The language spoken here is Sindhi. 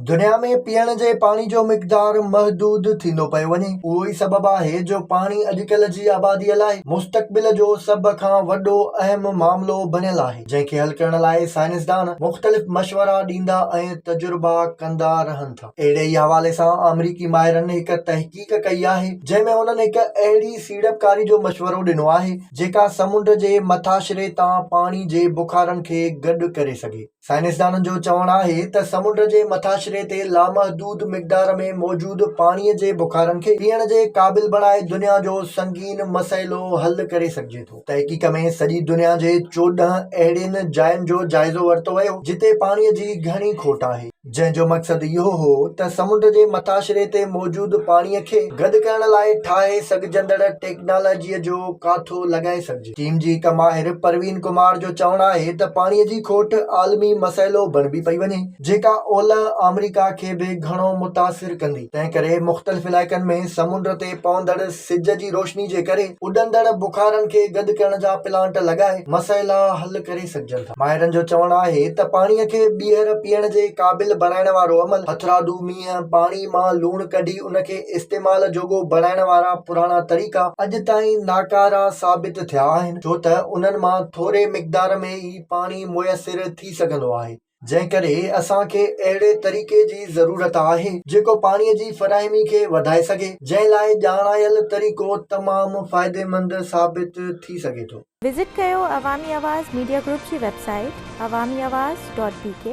دنيا ۾ پيئڻ جي پاڻي جو مقدار محدود ٿيندو پيو وڃي. اهو ئي سبب آهي جو پاڻي اڄڪلهه جي آباديء لاء مستقبل جو سڀ کان وڏو اهم معاملو بڻيل آهي، جنهن کي حل ڪرڻ لاء سائنسدان مختلف مشورا ڏيندا ۽ تجربا ڪندا رهن ٿا. اهڙي ئي حوالي سان آمريڪي ماهرن هڪ تحقيق ڪئي آهي، جنهن ۾ هنن هڪ اهڙي سيڙپڪاري جو مشورو ڏنو آهي، جيڪا سمنڊ جي مٿاڇري تان پاڻي جي بخارن کي گڏ ڪري سگهي. سائنسدانن جو چوڻ آهي ته سمنڊ جي مٿاڇري تي لامحدود مقدار ۾ موجود پاڻي جي بخارن کي پيئڻ جي قابل بڻائي دنيا جو سنگين مسئلو حل ڪري سگهجي ٿو. تحقيق ۾ سڄي دنيا جي چوڏهن اهڙين جاين جو جائزو ورتو ويو جتي پاڻي جي گهڻي کوٽ آهي، جنهن جو مقصد اهو هو ته سمنڊ جي مٿاڇري تي موجود پاڻي کي گڏ ڪرڻ لاء ٺاهي سگهجندڙ ٽيڪنالاجي جو ڪاٿو لڳائي سگهجي. ٽيم جي هڪ ماهر پروين ڪمار جو چوڻ آهي ته پاڻي جي کوٽ عالمي مسئلو بڻبي پئي وڃي جيڪا اولهه آمريڪا کي به گهڻو متاثر ڪندي تنهن ڪري مختلف علائقن ۾ سمنڊ تي پوندڙ سج جي روشني جي ڪري اڏندڙ بخارن کي گڏ ڪرڻ جا پلانٽ لڳائي مسئلا حل ڪري سگهجن ٿا. ماهرن جو چوڻ آهي ته پاڻي کي ٻيهر پيئڻ جي قابل بڻائڻ وارو عمل هٿرادو مينهن پاڻي مان لوڻ ڪڍي ان کي استعمال جوڳو بڻائڻ وارا پراڻا طريقا اڄ تائين ناڪارا ثابت ٿيا آهن ڇو ته انهن مان ٿوري مقدار ۾ ئي پاڻي ميسر ٿي سگهندو آهي. جنهن ڪري اسان کي اهڙي طريقي جي ضرورت آهي جيڪو پاڻي جي فراهمي کي وڌائي سگهي جنهن لاء ڄاڻايل طريقو تمام فائديمند ثابت ٿي سگهي ٿو. وزٽ ڪيو عوامي آواز ميڊيا گروپ جي website Awami Awaz dot بي ڪي.